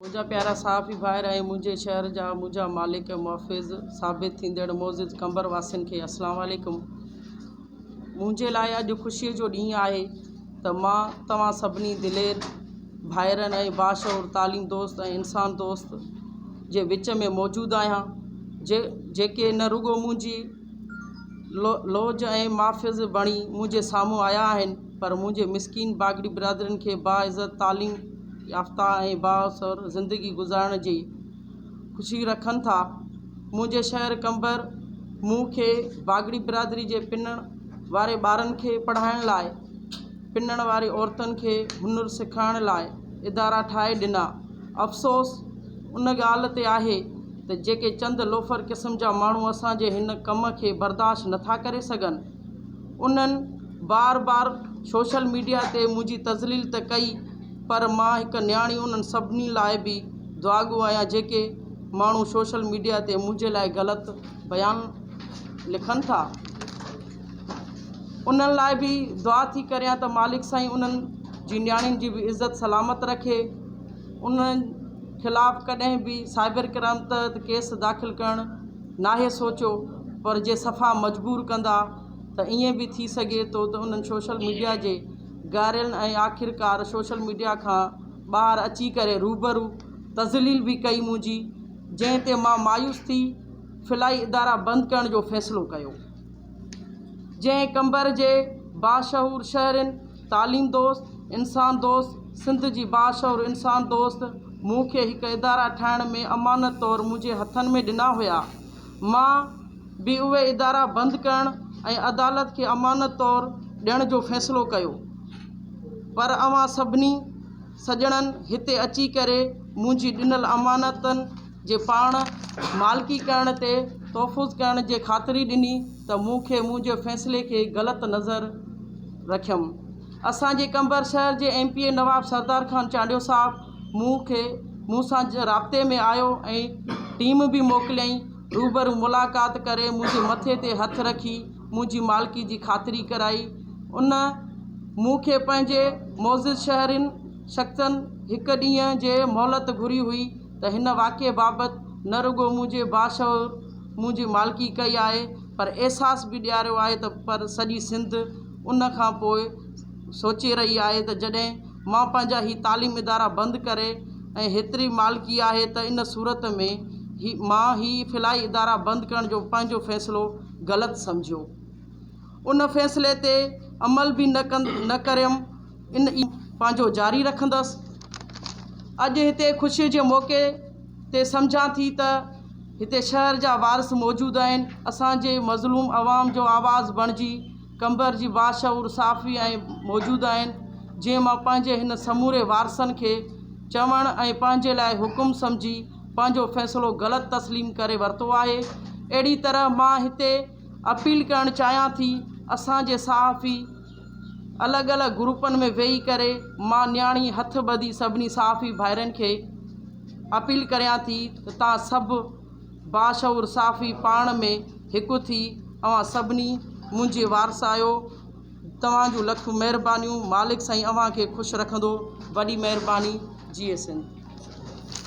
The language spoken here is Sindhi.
منهنجا پيارا صحافي ڀائر ۽ منهنجي شهر جا منهنجا مالڪ ۽ محفظ ثابت ٿيندڙ معزز قمبر واسين کي السلام عليڪم منهنجي لاء اڄ خوشي جو ڏينهن آهي ته مان توهان سڀني دلير ڀائرن ۽ باشعور تعليم دوست ۽ انسان دوست جي وچ ۾ موجود آهيان جي جيڪي نه رڳو منهنجي لوج ۽ محفظ بڻي منهنجي سامهون آيا آهن پر منهنجي مسڪين باگڙي برادرين کي باعزت تعليم يافته ۽ بااثر زندگي گذارڻ جي خوشي رکن ٿا. منهنجي شهر قمبر مون کي باگڙي برادري جي پنڻ واري ٻارن کي پڙهائڻ لاء پنڻ واري عورتن کي هنر سکائڻ لاء ادارا ٺاهي ڏنا. افسوس ان ڳالهه تي آهي ته جيڪي چند لوفر قسم جا ماڻهو اسان جي هن ڪم کي برداشت نٿا ڪري سگهن. انهن بار بار سوشل ميڊيا تي منهنجي تذليل ته ڪئي پر مان هڪ نياڻي انهن سڀني لاء به دعاڳو آهيان جيڪي ماڻهو سوشل ميڊيا تي منهنجي لاء غلط بيان لکن ٿا انهن لاء به دعا ٿي ڪريان ته مالڪ سائين انهن جي نياڻين جي به عزت سلامت رکي انهن خلاف ڪڏهن به سائبر ڪرائم تحت ڪيس داخل ڪرڻ ناهي سوچيو پر جي صفا مجبور ڪندا ته ائين به ٿي سگهي ٿو ته انهن سوشل ميڊيا جي گارين ۽ آخرڪار سوشل ميڊيا کان ٻاهر اچي ڪري روبرو تذليل به ڪئي منهنجي جنهن تي مان مايوس ٿي فلاحي ادارا بند ڪرڻ جو فيصلو ڪيو. جنهن قمبر جي باشعور شهرين، تعليم دوست، انسان دوست سنڌ جي باشعور انسان دوست مون کي هڪ ادارا ٺاهڻ ۾ امانت طور منهنجي هٿن ۾ ڏنا هيا. مان به اهي ادارا بند ڪرڻ ۽ عدالت کي امانت طور ڏيڻ جو فيصلو ڪيو. پر اوهان سڀني سڄڻن هتي اچي ڪري منهنجي ڏنل امانتن جي پاڻ مالڪي ڪرڻ تي تحفظ ڪرڻ جي خاطري ڏني ته مون کي منهنجي فيصلي کي غلط نظر رکيم. اسان جي قمبر شهر جي M P A Nawab Sardar Khan Chandio Sahib مون کي مون سان رابطي ۾ آيو ۽ ٽيم به موڪليائين روبرو ملاقات ڪري منهنجي مٿي تي هٿ رکي منهنجي مالڪي جي خاطري ڪرائي ان مون کي پنهنجي معزز شهرين شخصن هڪ ڏينهن جي مهلت گهري هئي ته هن واقعي بابت نه رڳو منهنجي باشعور منهنجي مالڪي ڪئي آهي پر احساس به ڏياريو آهي ته پر سڄي سنڌ ان کان پوء سوچي رهي آهي ته جڏهن مان پنهنجا هي تعليم ادارا بند ڪري ۽ هيتري مالڪي آهي ته ان صورت ۾ هي مان هي فلاحي ادارا بند ڪرڻ جو پنهنجو فيصلو غلط سمجهيو ان فيصلي تي عمل به نه ڪريم ان ئي پنهنجو جاري رکندس اڄ هتي خوشي جي موقعي تي سمجهان ٿي ته هتي شهر جا وارث موجود آهن اسان جي مظلوم عوام جو آواز بڻجي قمبر جي باشعور صحافي ۽ موجود آهن جنهن مان پنهنجي هن سموري وارثن کي چوڻ ۽ پنهنجي لاء حڪم سمجهي پنهنجو فيصلو غلط تسليم ڪري ورتو آهي اهڙي طرح مان هتي اپيل ڪرڻ چاهيان ٿي اسان جي صحافي الڳ الڳ گروپن ۾ ويهي ڪري مان نياڻي هٿ ٻڌي سڀني صحافي ڀائرن کي اپيل ڪريان ٿي ته تان سڀ باشعور صحافي پاڻ ۾ هڪ ٿي اوهان سڀني منهنجي وارث آهيو توهان جون لک مهربانيون مالڪ سائين اوهان کي خوش رکندو وڏي مهرباني جيئي سنڌ.